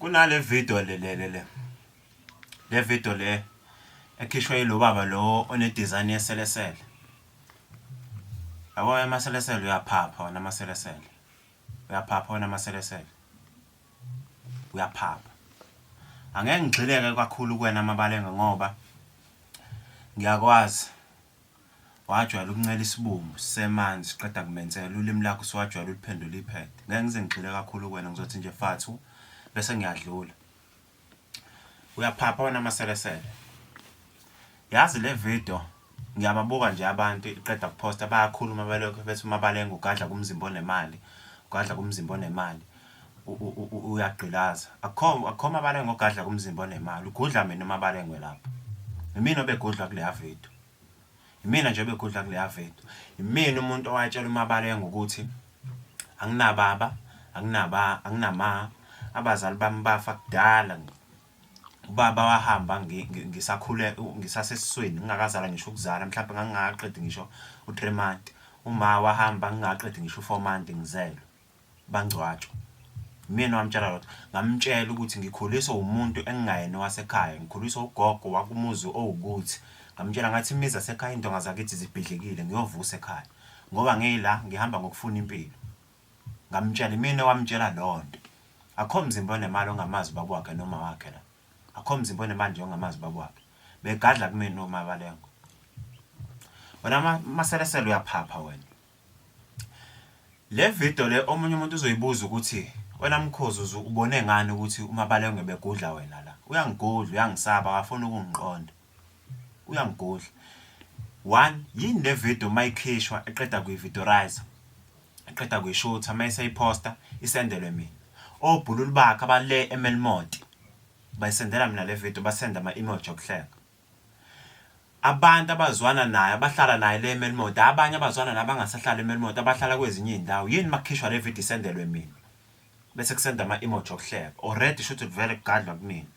kunale video le le le le video le ekhishwa yilo baba lo onedesign yeselesele yabo amaselesele uyaphapha wona amaselesele uyaphapha wona amaselesele uyaphapha angeke ngigxileke kakhulu kuwena amabalenge ngoba ngiyakwazi Wajwayela ukuncela isibumbu sisemanzi siqeda kumensela ulimi lakho usuwajwayela uliphendula iphede. Ngeke ngize ngigxile kakhulu kuwena ngizothi nje fathu bese ngiyadlula. Uyaphapha wena maselesele. Yazi le video ngiyababuka nje abantu iqeda kuposta bayakhuluma belokho bethi umabalenga ugadla kumzimba onemali ugadla kumzimba onemali uyagqilaza akukho akukho mabalengwe ogadla kumzimba onemali ugudla mina umabalengwe lapho imina obegudlwa kuleya video imina nje obegudla kuleya video imina umuntu owatshela umabalengwe ukuthi anginababa anginaba anginama abazali bami bafa kudala ubaba wahamba ngisakhule ngisasesisweni ngingakazala ngisho ukuzala mhlawumbe ngangingaqedi ngisho u-three month uma wahamba ngingaqedi ngisho u-four month ngizelwe bangcwatshwa. Imina owamtshela lokho, ngamtshela ukuthi ngikhuliswa umuntu engingayena owasekhaya, ngikhuliswa ugogo wakumuzi owukuthi. Ngamtshela ngathi imizi yasekhaya iy'ndonga zakithi zibhidlikile ngiyovusa ekhaya ngoba ngila ngihamba ngokufuna impilo. Ngamtshela, imina owamtshela leyo nto. Akukho mzimba onemali ongamazi ubaba wakhe noma wakhe la. Akukho mzimba onemali nje ongamazi ubaba wakhe. Begadla kumina omabalengwe. Wena maselesele uyaphapha wena. Le video le omunye umuntu uzoyibuza ukuthi wena Mkhozi uze ubone ngani ukuthi uMabalengwe begudla wena la. Uyangigudla, uyangisaba, akafuni ukungiqonda. Uyangigudla. One, yini le video uma ikhishwa eqeda kuyi-videorizer, eqeda kuyishutha, uma eseyiphosta isendelwe mina. Obhululu bakhe abale eMelmoth bayisendela mina le video, basenda ama-emoji okuhleka. Abantu abazwana naye abahlala naye le eMelmoth, hhayi abanye abazwana naye abangasahlali eMelmoth abahlala kwezinye izindawo. Yini makukhishwa le video isendelwe mina? Bese kusenda ama emoji okuhleka. Already shuthi kuvele kugadlwa kunina.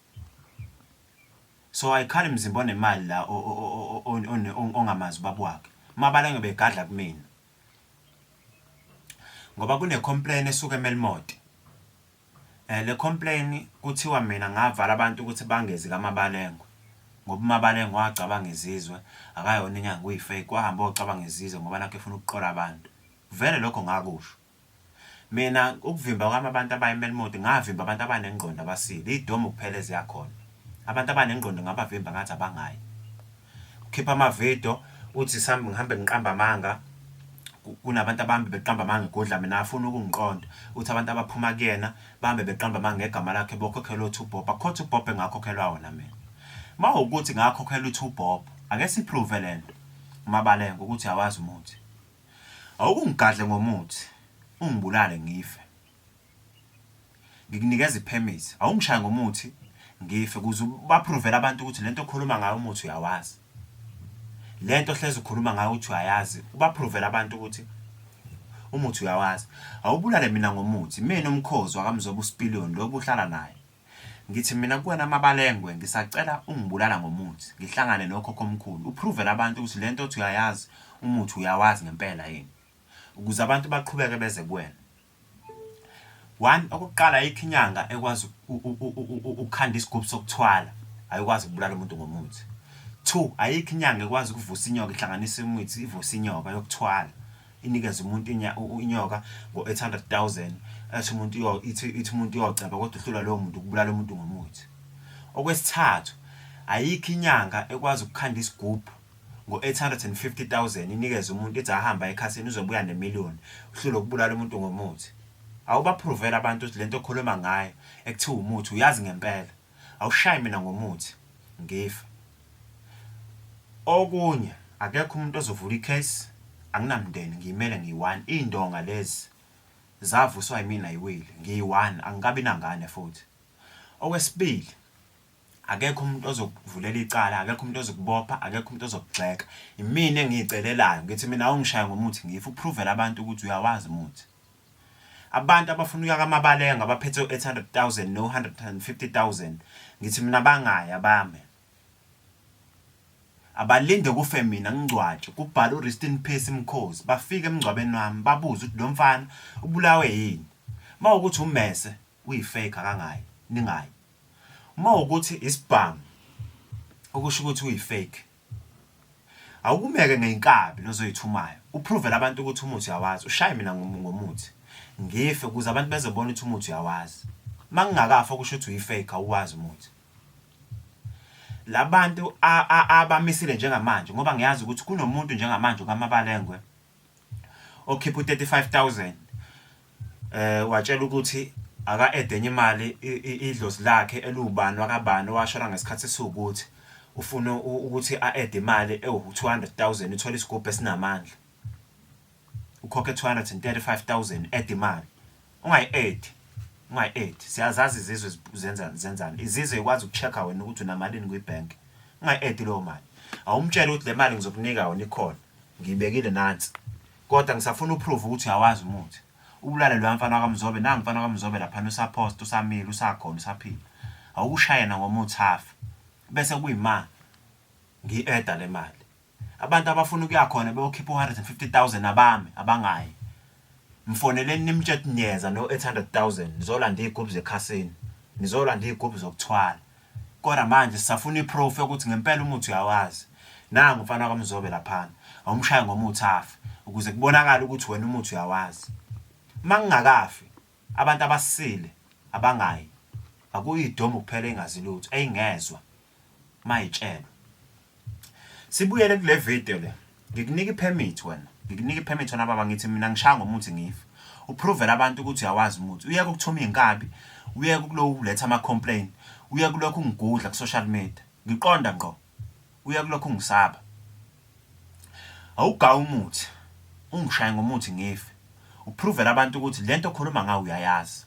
So ayikhali mzimba onemali la ongamazi ubaba wakhe. Mabalange begadla kumina. Ngoba kune complain esuka eMelmoth. Le complain kuthiwa mina ngavala abantu ukuthi bangezi kaMabalengwe ngoba uMabalengwe wacabanga izizwe akayona inyanga uyi fake wahamba wayocabanga izizwe ngoba nakhu efuna ukuqola abantu vele lokho ngakusho mina ukuvimba kwami abantu abayi Melmoth ngavimba abantu abanengqondo abasile idomu kuphela eziyakhona abantu abanengqondo ngabavimba ngathi abangayi. Ukhipha ama video uthi sambe ngihambe ngiqamba amanga kunabantu abambe beqamba amanga egodla mina afuna ukungiqonda uthi abantu abaphuma kuyena bambe beqamba amanga ngegama lakhe bokhokhelwa uthi uBob akhotha uBob engakhokhelwa wona mina mawukuthi ngakhokhela uthi uBob ake siprove lento umabale ngokuthi awazi umuthi awukungigadle ngomuthi ungibulale ngife Ngikunikeza i permit awungishaye ngomuthi ngife kuze uba provele abantu ukuthi lento okhuluma ngayo umuthi uyawazi lento hleze ukhuluma ngayo ukuthi uyayazi uba provele abantu ukuthi umuthi uyawazi awubulale mina ngomuthi mina umkhozi wakamzoba usipiliyoni lobu uhlala naye ngithi mina kuwena amabalengwe ngisacela ungibulala ngomuthi ngihlangane nokhokho omkhulu uprovele abantu ukuthi lento othi uyayazi umuthi uyawazi ngempela yini ukuze abantu baqhubeke beze kuwena one okokuqala ayikho inyanga ekwazi ukukhanda isigubhu sokuthwala ayikwazi ukubulala umuntu ngomuthi two ayikho inyanga ekwazi ukuvusa inyoka ihlanganise imithi ivusa inyoka yokuthwala inikeza umuntu inyoka ngo-800 000 ethi umuntu ithi umuntu uyoceba kodwa uhlula lowo muntu ukubulala umuntu ngomuthi okwesithathu ayikho inyanga ekwazi ukukhanda isigubhu ngo-850,000 inikeze umuntu ithi ahambe aye ekhasini uzobuya ne-million uhlulwe ukubulala umuntu ngomuthi awubapruvele abantu ukuthi lento okhuluma ngayo ekuthiwa umuthi uyazi ngempela awushayi mina ngomuthi ngife okunye akekho umuntu ozovula icase anginamndeni ngiyimele ngiyi-one iy'ndonga lezi zavuswa yimina yiwile ngiyi-one angikabi nangane futhi okwesibili Akekho umuntu ozokuvulela icala, akekho umuntu ozokubopha, akekho umuntu ozokugxeka. Imina engiyicelelayo, ngithi mina awungishaya ngomuthi ngife, uphruvele abantu ukuthi uyawazi umuthi. Abantu abafuna ukuya kaMabalenga abaphethe u-eight hundred thousand no-one hundred and fifty thousand, ngithi mina bangayi abame. Abalinde kufe mina ngingcwatshwe, kubhale u-rest in peace Mkhozi, bafike emngcwabeni wami babuze ukuthi lo mfana ubulawe yini? Uma kuwukuthi ummese, uyi fake akangayi ningayi uma ukuthi isibhamu okusho ukuthi uyi fake awukumeke ngeyinkabi lozoyithumayo upruvele abantu ukuthi umuthi uyawazi ushaye mina ngomuthi ngife ukuze abantu bezobona ukuthi umuthi uyawazi mangingakafa okusho ukuthi uyi fake awuwazi umuthi labantu abamisile njengamanje ngoba ngiyazi ukuthi kunomuntu njengamanje kaMabalengwe okhipha u 35000 um watshela ukuthi aka ede enye imali idlozi lakhe eliwubani wakabani owashona ngesikhathi esiwukuthi ufuna ukuthi a ede imali ewu 200000 uthole isigubhu esinamandla ukhokhe 235000 ede imali Ungayi-add, ungayi-add. Siyazazi izizwe zenzani, zenzani. Izizwe ikwazi uku-check-a wena ukuthi unamalini kwi-bank. Ungayi-add leyo mali. Awumtshele ukuthi le mali ngizokunika yona ikhona. Ngiyibekile nansi. Kodwa ngisafuna u-prove ukuthi uyawazi umuthi. Ubulale loya mfana wakaMzobe, nangu umfana wakaMzobe laphana usaphosta, usamile, usakhona, usaphila. Awukushaye nangomuthi afe. Bese kuyima ngiyi-add-a le mali. Abantu abafuna ukuya khona beyokhipha u-150,000 abami abangayi. Mfoneleni nimtshe ukuthi niyeza no-800,000 nizolanda iy'gubhu zekhasini, nizolanda iy'gubhu zokuthwala. Kodwa manje sisafuna i-proof yokuthi ngempela umuthi uyawazi. Nangu umfana kaMzobe laphana, awumshaye ngomuthi afe ukuze kubonakale ukuthi wena umuthi uyawazi. Uma ngingakafi, abantu abasile abangayi. Akuyi idomu kuphela engazi lutho, eyi ngezwa. mayitshelo sibuyele kule video le ngikunika ipermit wena ngikunika ipermit wena baba ngithi mina ngishaya ngomuthi ngifa uprovele abantu ukuthi uyawazi umuthi uyeke ukuthuma iy'nkabi uyeke ukuloku uletha ama-complain uyeke kulokhu ungigudla ku-social media ngiqonda ngqo uyeke kulokhu ungisaba awugawa umuthi ungishaye ngomuthi ngife uprovele abantu ukuthi le nto okhuluma ngayo uyayazi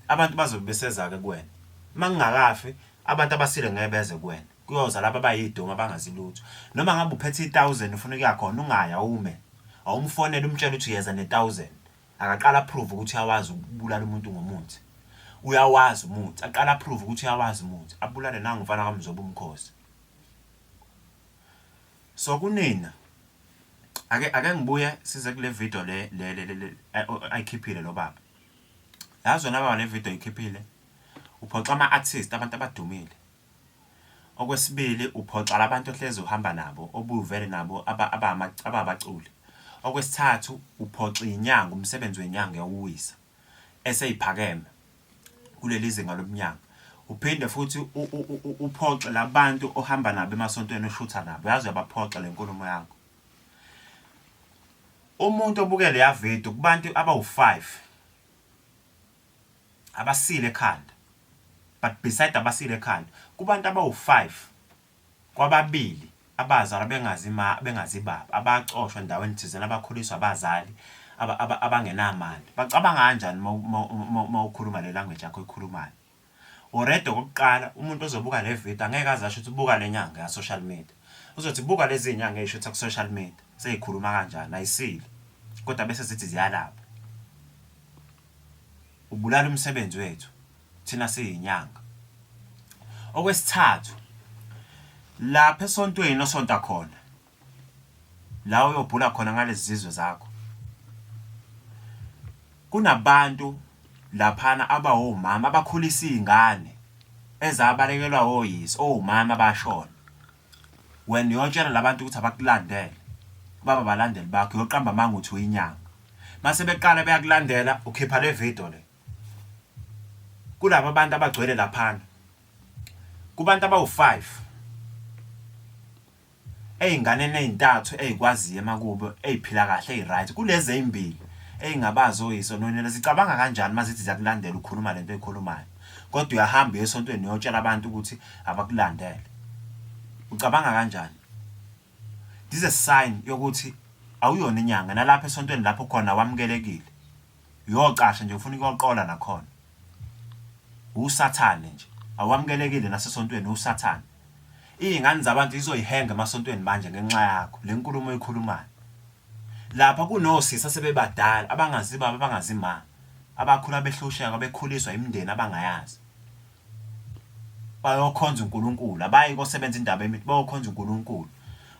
abantu bazobe beseza-ke kuwena uma ngingakafi Abantu abasile ngeke beze kuwena. Kuyoza laba abayidomu abangazi lutho. Noma ngabe uphethe i-1000 ufuna ukuya khona ungaya ume. Awumfonele umtshele ukuthi yeza ne-1000. Akaqala approve ukuthi uyawazi ukubulala umuntu ngomuthi. Uyawazi umuthi. Aqala approve ukuthi uyawazi umuthi. Abulale nangu mfana kaMzobo umkhosi. So kunina ake ake ngibuye size kule video le le ayikhiphile lo baba. Yazi wena baba le video ikhiphile Uphoxa ama artist abantu abadumile. Okwesibili uphoxa labantu ohlezi uhamba nabo obuvele nabo ababaculi. Okwesithathu uphoxa inyanga umsebenzi wenyanga yawuwisa eseyiphakeme kuleli zinga lobunyanga. Uphinde futhi uphoxe labantu ohamba nabo emasontweni oshutha nabo yazi uyabaphoxa lenkulumo yakho. Umuntu obukele ya video kubantu abawu-5 abasile ekhanda but beside abasile ekhanda kubantu abawu five kwababili abazalwa bengazi ma bengazi baba abacoshwa endaweni thizeni abakhuliswa abazali abangenamali bacabanga kanjani mawukhuluma le language yakho ikhulumayo already okokuqala umuntu ozobuka le video angeke aze asho ukuthi buka le nyanga ya-social media uzothi buka lezi nyanga eyisho ukuthi ku-social media seyikhuluma kanjani ayisile kodwa bese zithi ziyalapha Ubulala umsebenzi wethu thina siyinyanga. Okwesithathu, lapha esontweni osonta khona la uyobhula khona ngalezi zizwe zakho kunabantu laphana abawomama abakhulisa iy'ngane ezabalekelwa woyise owumama bashona. Wena uyotshela labantu ukuthi abakulandele baba abalandeli bakho uyoqamba amanga uthi uyinyanga mase beqala beyakulandela ukhipha le video le kulabo abantu abagcwele laphana kubantu abawu-5 ey'nganeni ey'ntathu ey'kwaziyo emakubo ey'phila kahle ey'right kulezi ey'mbili ey'ngabazi oyisononela zicabanga kanjani uma zithi ziyakulandela ukhuluma le nto eyikhulumayo kodwa uyahamba uye esontweni uyotshela abantu ukuthi abakulandele ucabanga kanjani this is a sign yokuthi awuyona inyanga nalapha esontweni lapho khona wamukelekile uyocasha nje ufuna ukuyoqola nakhona usathane nje awamukelekile nasesontweni usathane iy'ngane zabantu zizoyihenga emasontweni manje ngenxa yakho le nkulumo oyikhulumayo Lapha kunosisi asebebadala abangazi baba abangazi ma, abakhula behlushekwa bekhuliswa imindeni abangayazi. Bayokhonza uNkulunkulu, abayi kosebenza indaba emithi, bayokhonza uNkulunkulu.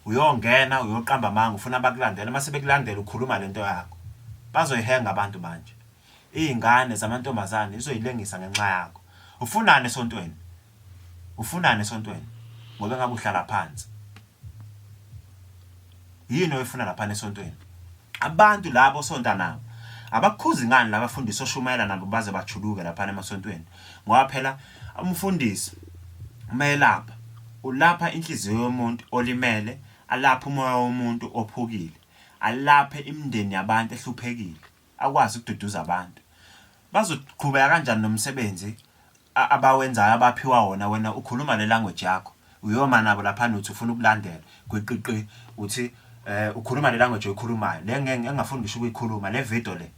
Uyongena uyoqamba amanga ufuna bakulandele, mase bekulandela ukhuluma lento yakho. Bazoyihenga abantu manje. Izingane zamantombazane zizoyilengisa ngenxa yakho. Ufunani esontweni? Ufunani esontweni? Ngoba engabe uhlala phansi. Yini oyifuna laphana esontweni? Abantu labo osonta nabo abakhuzi ngani labafundisi oshumayela nabo baze bajuluke laphana emasontweni ngoba phela umfundisi umayelapha ulapha inhliziyo yomuntu olimele alapha umoya womuntu ophukile alaphe imindeni yabantu ehluphekile akwazi ukududuza abantu. Bazoqhubeka kanjani nomsebenzi abawenzayo abaphiwa wona wena ukhuluma le language yakho uyoma nabo laphana uthi ufuna ukulandela gwiqiqi uthi eh ukhuluma le language oyikhulumayo le engafuni ngisho ukuyikhuluma le video le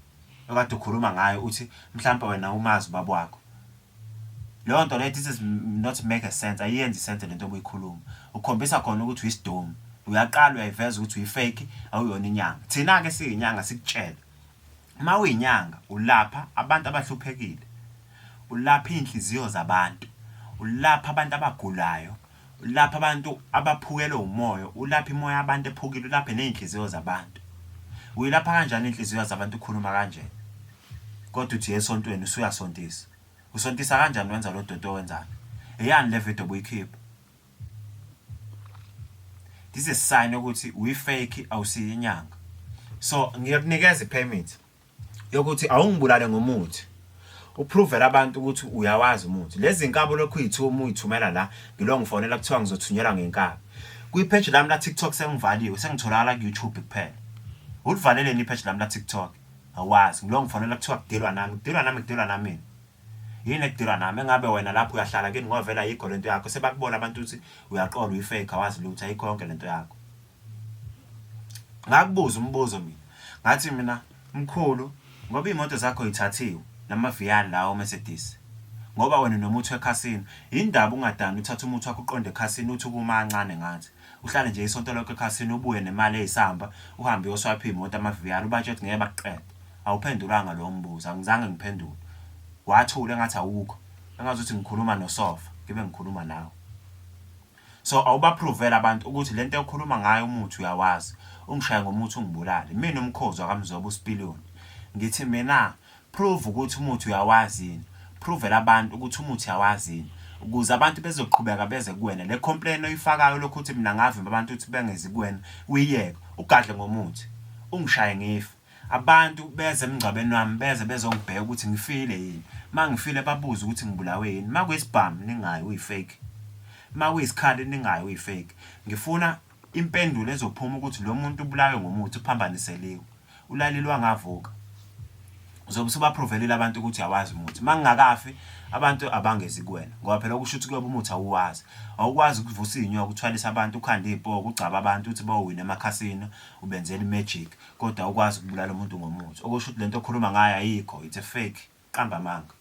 okade ukhuluma ngayo uthi mhlawumbe wena umazi baba wakho Leyo nto leyo this is not make a sense ayiyenzi sense lento obuyikhuluma ukhombisa khona ukuthi uyisidomu uyaqala uyayiveza ukuthi uyifake awuyona inyanga thina-ke siyinyanga sikutshele uma uyinyanga ulapha abantu abahluphekile ulapha iy'nhliziyo zabantu ulapha abantu abagulayo Ulapha abantu abaphukelwe umoya, ulapha imoya yabantu ephukile, ulaphe nezinhliziyo zabantu. Uyilapha kanjani inhliziyo zabantu ukhuluma kanjena? Kodwa uthi esontweni usuyasontisa. Usontisa kanjani wenza lo doti owenzani? Eyani le video obuyikhipha? This is sign ukuthi uyi fake awusiyinyanga. So ngiyakunikeza i permit. yokuthi awungibulale ngomuthi upruvele abantu ukuthi uyawazi umuthi lezi nkabi olokhu uyithuma uyithumela la ngilo ngifonela kuthiwa ngizothunyelwa ngenkabi kwipheji lami la-tiktok sengivaliwe sengitholakala ku-youtube kuphela ulivaleleni ipheji lami la-tiktok awazi ngilo ngifonela kuthiwa kudilwa nami kudilwa nami kudilwa nami yini ekudilwa nami engabe wena lapho uyahlala kini ngovela yikho lento yakho sebakubona abantu ukuthi uyaqola uyifake awazi lutho ayikho yonke lento yakho Ngakubuza umbuzo mina ngathi mina mkhulu ngoba iy'moto zakho y'thathiwe namaVian lawa oMercedes ngoba wena unomuthi wekhasino yini ndaba ungadani uthathe umuthi wakho uqonde ekhasini uthi ukuma kancane ngathi uhlale nje isonto lonke ekhasini ubuye nemali eyisamba uhambe uyoswapha iy'moto amaVian ubatshela ukuthi ngeke bakuqede. Awuphendulanga lowo mbuzo angizange ngiphendule wathula engathi awukho engazuthi ngikhuluma nosofa ngibe ngikhuluma nawe. So awuba provele abantu ukuthi lento ekhuluma ngayo umuthi uyawazi ungishaye ngomuthi ungibulale mina umkhozi wakamzoba usipiliyoni ngithi mina prove ukuthi umuthi uyawazi yini provele abantu ukuthi umuthi uyawazi yini ukuze abantu bezoqhubeka beze kuwena le complain oyifakayo lokhu uthi mina ngavimba abantu ukuthi bengezi kuwena uyiyeke ugadle ngomuthi ungishaye ngife Abantu beza emngcwabeni wami beza bezongibheka ukuthi ngifile yini. Uma ngifile babuze ukuthi ngibulawe yini. Uma kuyisibhamu ningayi uyi-fake. Uma kuyisikhali ningayi uyi-fake. Ngifuna impendulo ezophuma ukuthi lo muntu ubulawe ngomuthi, uphambaniseliwe, ulalile wangavuka. Uzobe usubapruvelile abantu ukuthi awazi umuthi. Uma ngingakafi abantu abangezi kuwena ngoba phela okusho ukuthi kuyoba umuthi awuwazi. Awukwazi ukuvusa iy'nyoka, uthwalise abantu, ukhande iy'poki, ugcabe abantu uthi bowina emakhasino, ubenzela i-magic. kodwa ukwazi ukubulala umuntu ngomuthi okusho ukuthi lento okhuluma ngayo ayikho it's a fake qamba amanga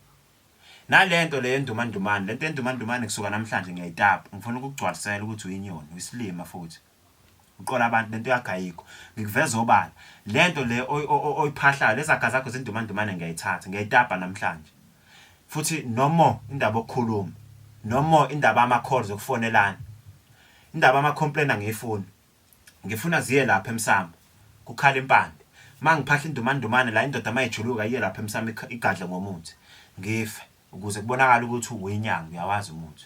nalento le yendumandumane lento yendumandumane kusuka namhlanje ngiyayitapa ngifuna ukugcwalisela ukuthi uyinyoni uyisilima futhi uqola abantu lento yagayikho ngikuveza obala lento le oyiphahlayo lezaga zakho zindumandumane ngiyayithatha ngiyayitapa namhlanje futhi nomo indaba okukhuluma nomo indaba ama calls okufonelana indaba ama complain angiyifuni Ngifuna ziye lapha emsamo, kukhala impande. Uma ngiphahla indumandumane la, indoda uma ijuluka iye lapha emsamo igadle ngomuthi, ngife, ukuze kubonakale ukuthi uwuyinyanga, uyawazi umuthi.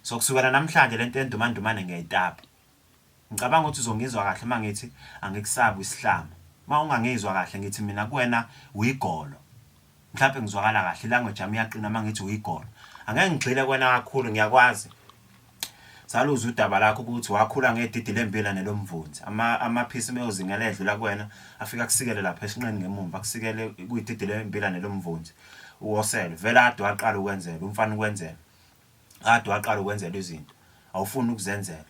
So kusukela namhlanje le nto yendumandumane ngiyayitapa. Ngicabanga ukuthi uzongizwa kahle uma ngithi angikusabi isihlama. Uma ungangizwa kahle ngithi mina kuwena uyigolo. Mhlampe ngizwakala kahle ilanguage yami iyaqina uma ngithi uyigolo. Angeke ngigxile kwena kakhulu ngiyakwazi. Saluza udaba lakho ukuthi wakhula ngedidi lembila nelomvunzi. Ama amaphisi meyozingela edlula kuwena afika kusikele lapha esinqeni ngemumva akusikele kuyididi lembila nelomvunzi. Uwosele vele ade waqala ukwenzela umfana ukwenzela. Ade waqala ukwenzela izinto. Awufuni ukuzenzela.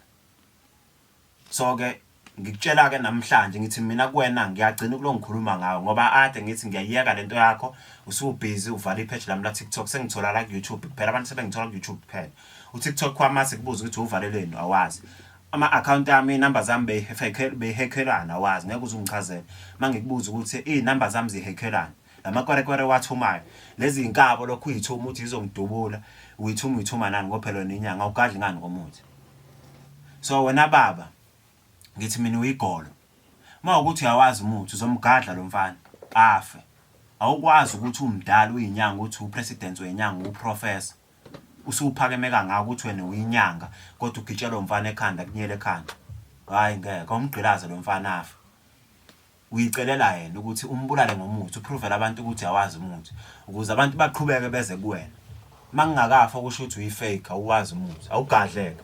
So ke ngikutshela ke namhlanje ngithi mina kuwena ngiyagcina kulo ngikhuluma ngawe ngoba ade ngithi ngiyayeka lento yakho usubhizi uvala ipage lami la TikTok sengithola la ku YouTube kuphela abantu sebengithola ku YouTube kuphela u TikTok kwama sikubuza ukuthi uvaleleni awazi ama account ami number zami beyifake beyihekhelana awazi ngeke uzungichazela mangikubuza ukuthi i number zami zihekhelana lamakwerekwere wathumayo lezi inkabo lokhu uyithuma uthi izongidubula uyithuma uyithuma nani ngophelo nenyanga ugadli ngani komuthi So wena baba ngithi mina uyigolo uma ukuthi uyawazi umuthi uzomgadla lo mfana afe awukwazi ukuthi umdala uyinyanga uthi upresident wenyanga uprofessor usuphakeme kangaka ukuthi wena uyinyanga kodwa ugitshelwa umfana ekhanda kunyele ekhanda hayi ngeke umgqilaze lo mfana afe Uyicelela yena ukuthi umbulale ngomuthi, upruvele abantu ukuthi awazi umuthi ukuze abantu baqhubeke beze kuwena. Uma ngingakafa kusho ukuthi uyi-fake, awuwazi umuthi, awugadle-ke.